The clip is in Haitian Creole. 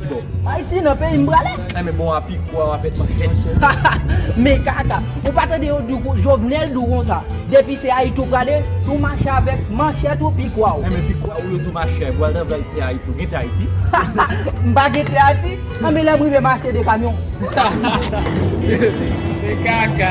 Bon. Haiti nan peyi m prale. An men bon api gwa wap et manchè. Haha men kaka ou pa tande yo di w jovenel di w konsa depi se ayiti w prale ou mache avek manchèt ou pi gwa w. An men pi gwa w yo di w mache a bwal nan vèl tè ayiti w gen tè ayiti. Haha m pa gen tè ayiti an men lè m rive m achte 2 kamyon. Hahaha men kaka.